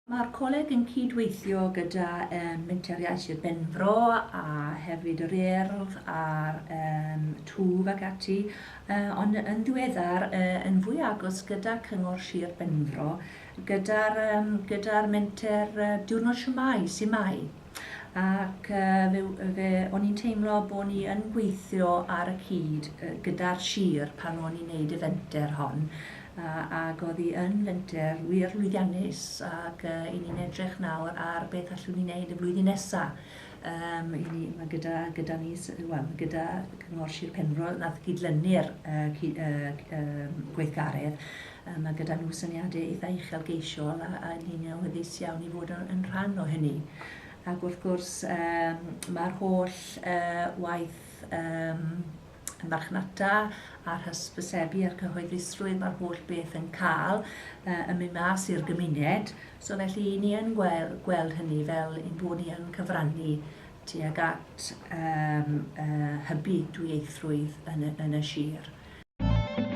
Mae'r coleg yn cydweithio gyda um, Menter Iaith Sir Benfro a hefyd yr Urdd a'r um, Twf ac ati ond yn ddiweddar yn fwy agos gyda Cyngor Sir Benfro gyda'r yym gyda'r menter Diwrnod Shwmae, Su' Mae? ac fe fe o'n i'n teimlo bo' ni yn gweithio ar y cyd gyda'r sir pan o'n i'n neud y fenter hon a ag o'dd 'i yn fenter wir lwyddiannus ag 'yn ni'n edrych nawr ar beth allwn ni neud y flwyddyn nesa. Yym, i ni, ma' gyda, gyda ni, s- wel, ma' gyda Cyngor Sir Penfro, nath gyd-lynu'r yy cy- yy cy- yym gweithgaredd, yy ma' gyda nhw syniade eitha uchelgeisiol a a ni'n awyddus iawn i fod yn yn rhan o hynny. Ac wrth gwrs yym ma'r holl yy waith yym y marchnata a'r hysbysebu a'r cyhoeddusrwydd mae'r holl beth yn cael uh, yn mynd mas i'r gymuned. So felly ni yn gweld, gweld hynny fel ein bod ni yn cyfrannu tuag at um, uh, hybu dwyieithrwydd yn y, yn y sir.